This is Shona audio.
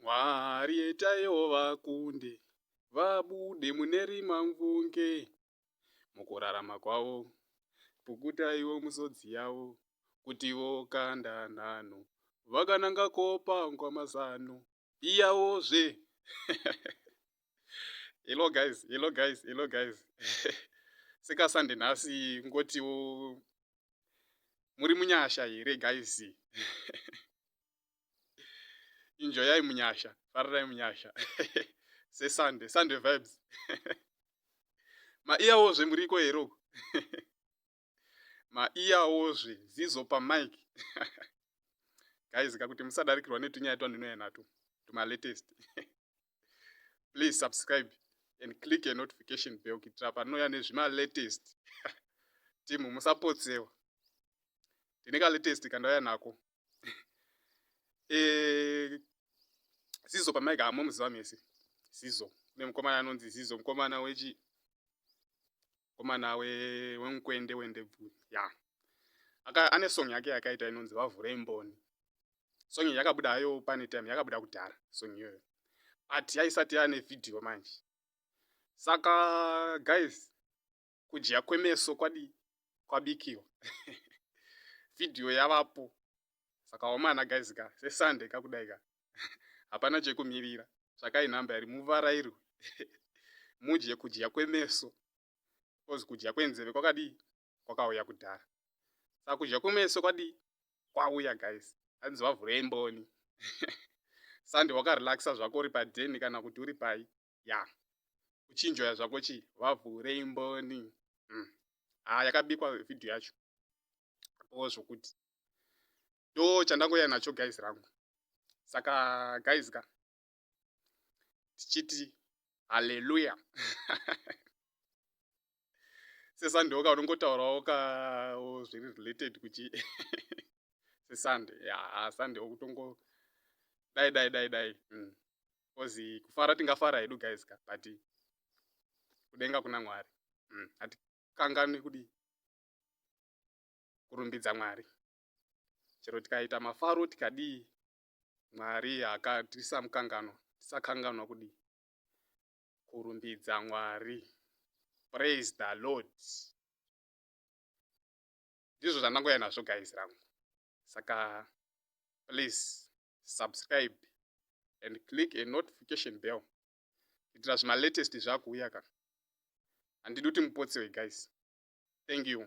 Mwari itaiwo vakundi vabude mune rimamvunge mukurarama kwavo, pukutaiwo musodzi yavo kuti vokanda nhanho vakananga kopangwa mazano iyawozve Hello guys, hello guys, hello guys sekasande nhasi kungotiwo muri munyasha here guys injoyai munyasha farirai munyasha sesunday sunday vibes maiyawozve muriko here uku maiyawozve zizo pamike guys ka kuti musadarikirwa netunyaya twandinouya nato tumalatest please subscribe and click a notification bell kuitira panouya nezvimalatest timu musapotsewa tine kalatest kandauya nako eh, zizo pamaika hamomuziva mese zizo kune mukomana anonzi zizo mukomana wechi mukomana wemukwende wendebvuri ya aka ane song yake yakaita inonzi vavhure mboni song iyi yakabuda hayo pane time yakabuda kudhara song iyoyo but yaisati yane vhidhiyo manje saka guys kudya kwemeso kwadii kwabikiwa vhidhiyo yavapo saka wamana guys ka sesunday kakudai ka hapana chekumirira tsvakai nhamba yari muvarairwe mudye kudya kwemeso bcause kudya kwenzeve kwakadii kwakauya kudhara saka kudya kwemeso kwadii kwauya guys hanzi vavhurei mboni sunday wakarelaxa zvako uri padeni kana kuti uri pai ya yeah. uchinjoya zvako chi vavhurei mboni mm. ah, yakabikwa vhidhiyo yacho o zvokuti ndo chandangoya nacho guys rangu saka guys ka tichiti haleluya sesande oka unongotaurawo ka zviri related kuchi sesande ya sande okutongo dai dai dai dai mm. coz kufara tingafara hedu guys ka but kudenga kuna mwari mm, hatikanganwi kudi kurumbidza mwari chero tikaita mafaro tikadii mwari akatisa mukangano tisakanganwa kudii kurumbidza mwari praise the lord ndizvo zvandangoya nazvo guys rangu saka please subscribe and click a notification bell kuitira zvima latest zvakuuya ka handidi kuti mupotsewe guys thank you